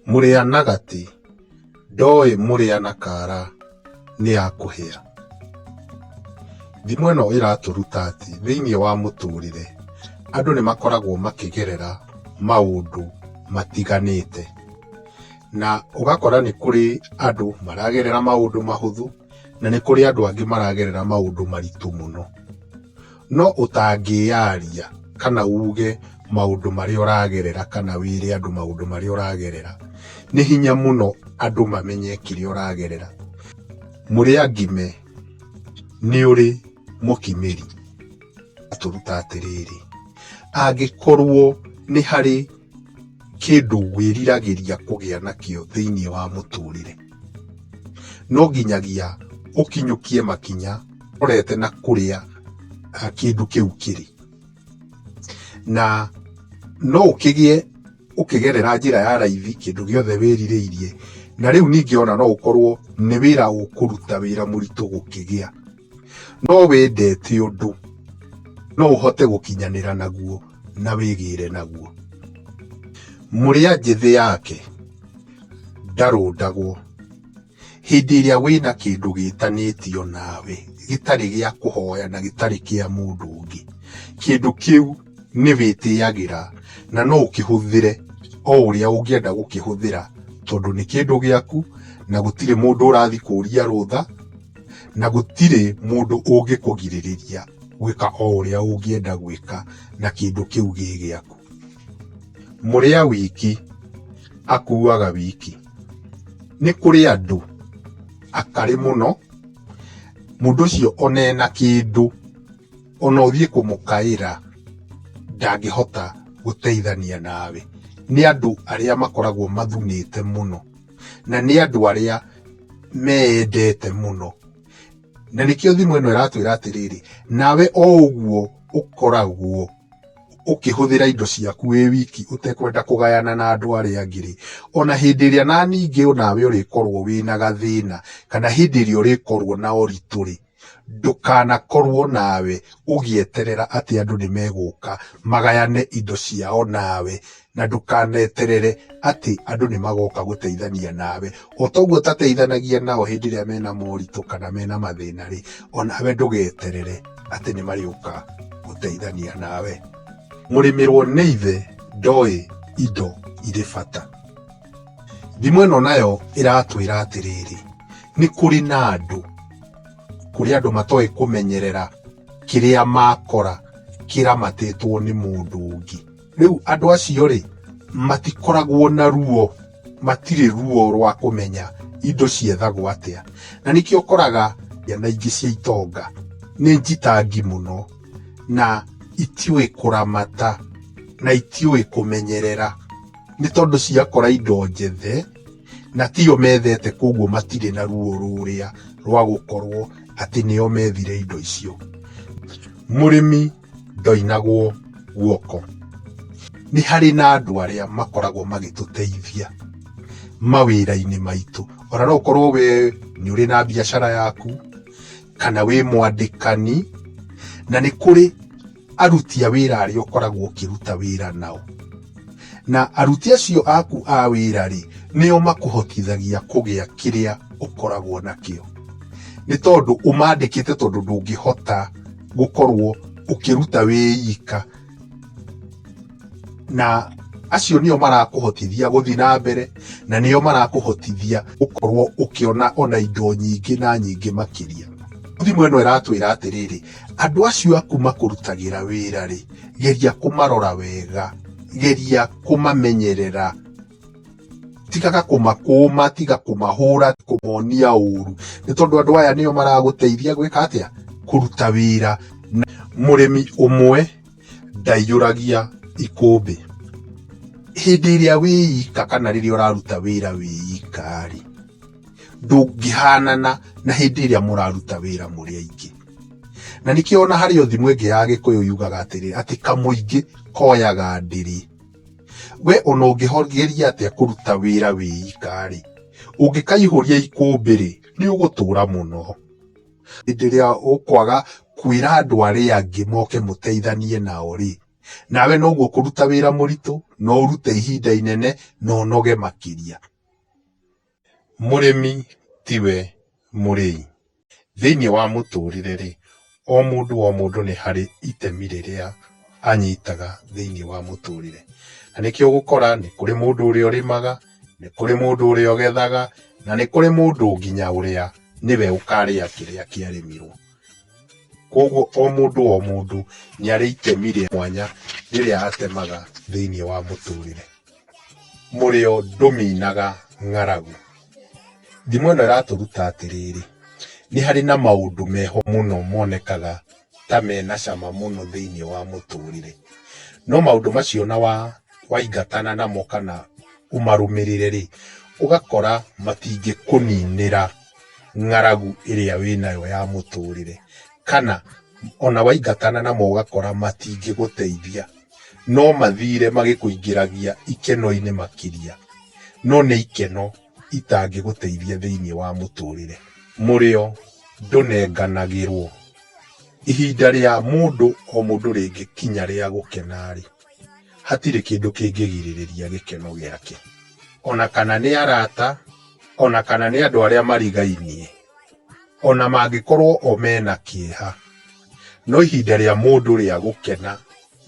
Mũrĩa na gatĩ ndoĩ mũrĩa na kara nĩ ya kũhĩa. Thimo ĩno ĩratũruta atĩ thĩinĩ wa mũtũrĩre andũ nĩ makoragwo makĩgerera maũndũ matiganĩte. Na ũgakora nĩ kũrĩ andũ maragerera maũndũ mahũthũ. na nĩ kũrĩ andũ angĩ maragerera maũndũ maritũ mũno. No ũtangĩyaria kana uge maũndũ marĩa ũragerera kana wĩre andũ maũndũ marĩa ũragerera, nĩ hinya mũno andũ mamenye kĩrĩa ũragerera. Mũrĩa ngime nĩ ũrĩ mũkimĩri atũruta atĩrĩrĩ, angĩkorwo nĩ harĩ... kĩndũ wĩriragĩria kũgĩa nakĩo thĩinĩ wa mũtũrĩre, no nginyagia ũkinyũkie makinya ũrorete na kũrĩa kĩndũ kĩu kĩrĩ. Na no ũkĩgĩe ũkĩgerera njĩra ya raithi kĩndũ gĩothe wĩrirĩirie, na rĩu ningĩ ona no ũkorwo nĩ wĩra ũkũruta wĩra mũritũ gũkĩgĩa. no wĩndete ũndũ no ũhote gũkinyanĩra naguo na wĩgĩre naguo mũrĩa njĩthĩ yake ndarũndagwo hĩndĩ ĩrĩa wĩna kĩndũ gĩtanĩtio nawe gĩtarĩ gĩa kũhoya na gĩtarĩ kĩa mũndũ ũngĩ kĩndũ kĩu nĩ wĩtĩagĩra na no ũkĩhũthĩre o ũrĩa ũngĩenda gũkĩhũthĩra tondũ nĩ kĩndũ gĩaku na gũtirĩ mũndũ ũrathi kũria rũtha na gũtirĩ mũndũ ũngĩkũgirĩrĩria gwĩka o ũrĩa ũngĩenda gwĩka na kĩndũ kĩu gĩ gĩaku mũrĩa wiki akuaga wiki nĩ kũrĩ andũ akarĩ mũno mũndũ ũcio ona ena kĩndũ ona ũthiĩ kũmũkaĩra ndangĩhota gũteithania nawe nĩ andũ arĩa makoragwo mathunĩte mũno. na nĩ andũ arĩa meendete mũno na nĩkĩo thimũ ĩno ĩratwĩra atĩrĩrĩ nawe o ũguo ũkoragwo ũkĩhũthĩra indo ciaku wĩ wiki ũtekwenda kũgayana na andũ arĩa angĩ rĩ ona hĩndĩ ĩrĩa na ningĩ onawe ũrĩkorwo wĩna gathĩna kana hĩndĩ ĩrĩa ũrĩkorwo na ũritũ rĩ Ndũkanakorwo nawe ũgĩeterera atĩ andũ nĩ megũka magayane indo ciao nawe, na ndũkaneterere atĩ andũ nĩ magoka gũteithania nawe. O ta ũguo ũtateithanagia nao hĩndĩ ĩrĩa mena moritũ kana mena mathĩna rĩ, o nawe ndũgeterere atĩ nĩ marĩũka gũteithania nawe. Mũrĩmĩrwo nĩ ithe ndoĩ indo irĩ bata. Thimo ĩno nayo ĩratwĩra atĩrĩrĩ, nĩ kũrĩ na andũ, kũrĩ andũ matoĩ kũmenyerera kĩrĩa makora kĩramatĩtwo nĩ mũndũ ũngĩ. Rĩu andũ acio rĩ, matikoragwo na ruo, matirĩ ruo rwa kũmenya indo ciethagwo atĩa. Na nĩkĩo ũkoraga ciana ingĩ cia itonga nĩ njitangi mũno, na itiũĩ kũramata, na itiũĩ kũmenyerera. nĩ tondũ ciakora indo njethe na tiyo methete koguo matirĩ na ruo rũrĩa rwa gũkorwo atĩ nĩo methire indo icio mũrĩmi ndoinagwo guoko nĩ harĩ na andũ arĩa makoragwo magĩtũteithia mawĩra-inĩ maitũ ona no ũkorwo we nĩ ũrĩ na biacara yaku kana wĩ mwandĩkani na nĩ kũrĩ aruti a wĩra arĩa ũkoragwo ũkĩruta wĩra nao. Na aruti acio aku a wĩra-rĩ, nĩo makũhotithagia kũgĩa kĩrĩa ũkoragwo nakĩo. Nĩ tondũ ũmandĩkĩte tondũ ndũngĩhota gũkorwo ũkĩruta wĩ ika. na acio nĩo marakũhotithia gũthiĩ na mbere na nĩo marakũhotithia gũkorwo ũkĩona ona indo nyingĩ na nyingĩ makĩria thimũ ĩno ĩratwĩra atĩrĩrĩ andũ acio aku makũrutagĩra wĩra rĩ geria kũmarora wega geria kũmamenyerera tigaga kũmakũma tiga kũmahũra kũmonia ũru nĩ tondũ andũ aya nĩo maragũteithia gwĩka atĩa kũruta wĩra mũrĩmi ũmwe Ndaiyũragia ikũmbĩ. Hĩndĩ ĩrĩa wĩika kana rĩrĩa ũraruta wĩra wĩika-rĩ, ndũngĩhanana na hĩndĩ ĩrĩa mũraruta wĩra mũrĩ aingĩ. Na nĩkĩo ona harĩ o thimo ĩngĩ ya Gĩkũyũ yugaga atĩrĩ, atĩ kamũingĩ koyaga ndĩrĩ. We ona ũngĩgeria atĩa kũruta wĩra wĩika-rĩ, ũngĩkaihũria ikũmbĩ-rĩ, nĩũgũtũra mũno. Hĩndĩ ĩrĩa ũkwaga kwĩra andũ arĩa angĩ moke mũteithanie nao-rĩ, nawe noguo ũkũruta wĩra mũritũ, no ũrute ihinda inene, na ũnoge makĩria. Mũrĩmi tiwe mũrĩi. Thĩiniĩ wa mũtũrĩre-rĩ, o mũndũ o mũndũ nĩ harĩ itemi rĩrĩa anyitaga thĩiniĩ wa mũtũrĩre. Na nĩkĩo ũgũkora nĩ kũrĩ mũndũ ũrĩa ũrĩmaga. Nĩ kũrĩ mũndũ ũrĩa ũgethaga, na nĩ kũrĩ mũndũ nginya ũrĩa nĩwe ũkarĩa kĩrĩa kĩarĩmirwo. Koguo o mũndũ o mũndũ nĩ arĩ itemi rĩa mwanya rĩrĩa atemaga thĩinĩ wa mũtũrĩre. Mũrĩo ndũminaga ng'aragu. Thimo ĩno ĩratũruta atĩrĩrĩ, nĩ harĩ na maũndũ meho mũno monekaga. ta me na cama mũno thĩinĩ wa mũtũrĩre. No maũndũ macio ona waingatana namo kana ũmarũmĩrĩre rĩ, ũgakora matingĩkũninĩra ng'aragu ĩrĩa wĩnayo ya mũtũrĩre. Kana ona waingatana namo ũgakora matingĩgũteithia, no mathire magĩkũingĩragia ikeno-inĩ makĩria, no nĩ ikeno. itangĩgũteithia thĩinĩ wa mũtũũrĩre. Mũrĩo ndũnenganagĩrũo. Ihinda rĩa mũndũ o mũndũ rĩngĩkinya rĩa gũkena-rĩ, hatirĩ kĩndũ kĩngĩgirĩrĩria gĩkeno gĩake. O na kana nĩ arata, o na kana nĩ andũ arĩa marigainie, o na mangĩkorũo o mena kĩeha, no ihinda rĩa mũndũ rĩa gũkena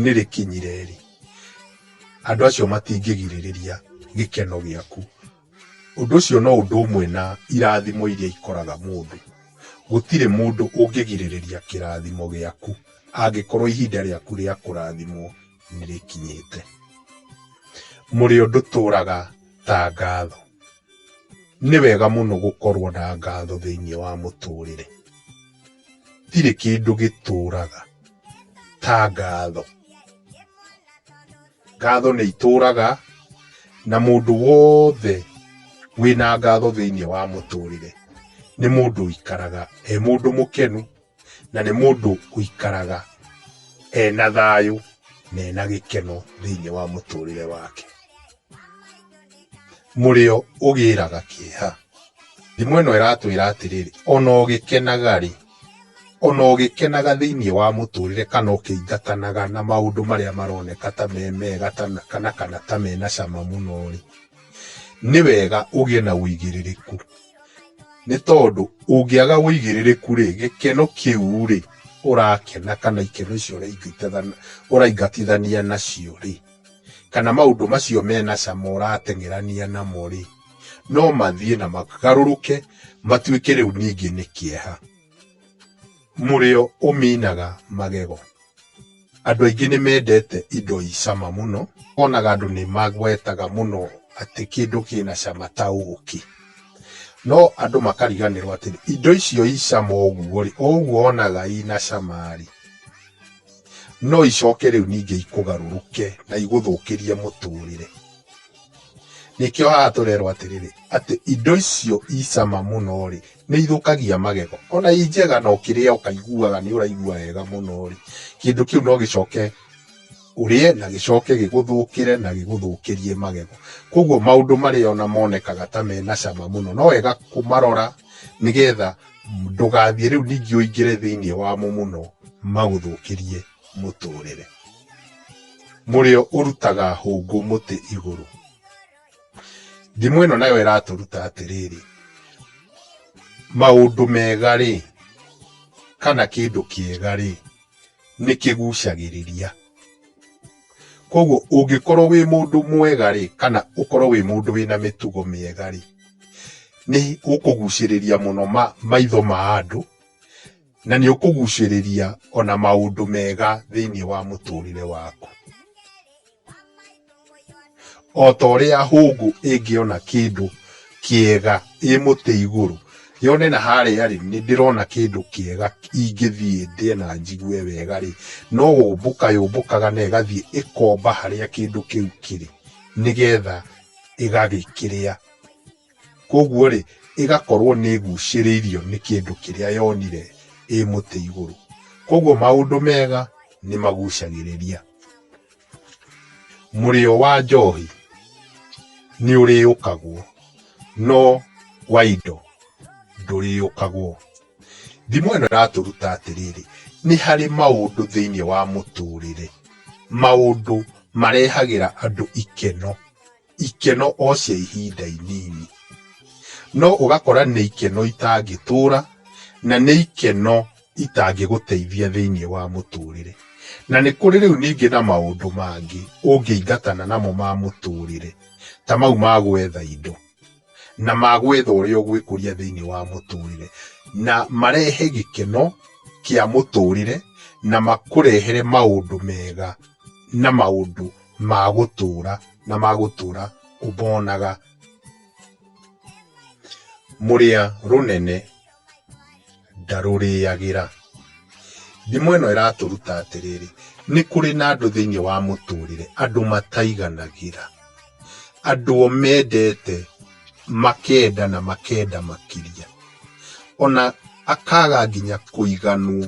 nĩ rĩkinyire-rĩ, andũ acio matingĩgirĩrĩria gĩkeno gĩaku. Ũndũ ũcio no ũndũ ũmwe na irathimo iria ikoraga mũndũ. Gũtirĩ mũndũ ũngĩgirĩrĩria kĩrathimo gĩaku angĩkorwo ihinda rĩaku rĩa kũrathimwo nĩ rĩkinyĩte. Mũrĩo ndũtũraga ta ngatho. Nĩ wega mũno gũkorwo na ngatho thĩinĩ wa mũtũrĩre. Gũtirĩ kĩndũ gĩtũũraga ta ngatho. Ngatho nĩ itũũraga na mũndũ wothe wĩna ngatho thĩinĩ wa mũtũrĩre nĩ mũndũ ũikaraga e mũndũ mũkenu na nĩ mũndũ ũikaraga ena thayũ na ena gĩkeno thĩinĩ wa mũtũrĩre wake. mũrĩo ũgĩraga kĩeha. Thimo ĩno ĩratwĩra atĩrĩrĩ, ona ũgĩkenaga rĩ, ona ũgĩkenaga thĩinĩ wa mũtũrĩre kana ũkĩingatanaga na maũndũ marĩa maroneka ta me mega kana kana ta mena cama mũno rĩ, nĩ wega ũgĩe na ũigĩrĩrĩku. Nĩ tondũ ũngĩaga ũigĩrĩrĩku rĩ, gĩkeno kĩu rĩ ũrakena kana ikeno icio ũraingatithania nacio rĩ... kana maũndũ macio mena cama ũrateng'erania namo-rĩ, no mathiĩ na magarũrũke matuĩke rĩu ningĩ nĩ kĩeha. Mũrĩo ũminaga magego. Andũ aingĩ nĩ mendete indo i cama mũno, wonaga andũ nĩ magwetaga mũno atĩ kĩndũ kĩna cama ta ũkĩ. No andũ makariganĩrwo atĩrĩ, indo icio i cama ũguo-rĩ, o ũguo wonaga ina cama-rĩ, no icoke rĩu ningĩ ikũgarũrũke na igũthũkĩrie mũtũrĩre nĩkĩo haha tũrerwo atĩrĩrĩ atĩ indo icio icama mũno rĩ nĩ ithũkagia magego ona i njega na ũkĩrĩa ũkaiguaga nĩ ũraigua wega mũno rĩ kĩndũ kĩu no gĩcoke ũrĩe na gĩcoke gĩgũthũkĩre na gĩgũthũkĩrie magego koguo maũndũ marĩa ona monekaga ta mena cama mũno no wega kũmarora nĩgetha ndũgathiĩ rĩu ningĩ ũingĩre thĩinĩ wamo mũno magũthũkĩrie mũtũrĩre mũrĩo ũrutaga hũngũ mũtĩ igũrũ ndimũ ĩno nayo ĩratũruta atĩrĩrĩ maũndũ mega rĩ kana kĩndũ kĩega rĩ nĩ kĩgucagĩrĩria. Koguo ũngĩkorwo wĩ mũndũ mwega rĩ, kana ũkorwo wĩ mũndũ wĩna mĩtugo mĩega rĩ, nĩ ũkũgucĩrĩria mũno maitho ma andũ, na nĩ ũkũgucĩrĩria ona maũndũ mega thĩiniĩ wa mũtũrĩre waku. O ta ũrĩa hũngũ ĩngĩona kĩndũ kĩega ĩ mũtĩ igũrũ, yone na harĩa rĩ, nĩ ndĩrona kĩndũ kĩega ingĩthiĩ ndĩe na njigue wega rĩ, no gũmbũka yũmbũkaga na ĩgathiĩ ĩkomba harĩa kĩndũ kĩu kĩrĩ, nĩgetha ĩgagĩkĩrĩa. Koguo rĩ, ĩgakorwo nĩ ĩgucĩrĩirio nĩ kĩndũ kĩrĩa yonire ĩ mũtĩ igũrũ. Koguo maũndũ mega nĩ magucagĩrĩria. Mũrĩo wa njohi nĩ ũrĩyũkagwo, no wa indo ndũrĩyũkagwo. Thimo ĩno ĩratũruta atĩrĩrĩ, nĩ harĩ maũndũ thĩinĩ wa mũtũrĩre, maũndũ marehagĩra andũ ikeno ikeno o cia ihinda inini no ũgakora nĩ ikeno itangĩtũra na nĩ ikeno itangĩgũteithia thĩinĩ wa mũtũrĩre. Na nĩ kũrĩ rĩu ningĩ na maũndũ mangĩ ũngĩingatana namo ma mũtũrĩre ta mau ma gwetha indo na ma gwetha ũrĩa ũgwĩkũria thĩinĩ wa mũtũrĩre na marehe gĩkeno kĩa mũtũrĩre na makũrehere maũndũ mega. na maũndũ ma gũtũũra na ma gũtũũra ũmonaga. Mũrĩa rũnene ndarũrĩagĩra. Thimo ĩno ĩratũruta atĩrĩrĩ, nĩ kũrĩ na andũ thĩinĩ wa mũtũrĩre andũ mataiganagĩra. Andũ o mendete makenda na makenda makĩria. Ona akaga nginya kũiganwo.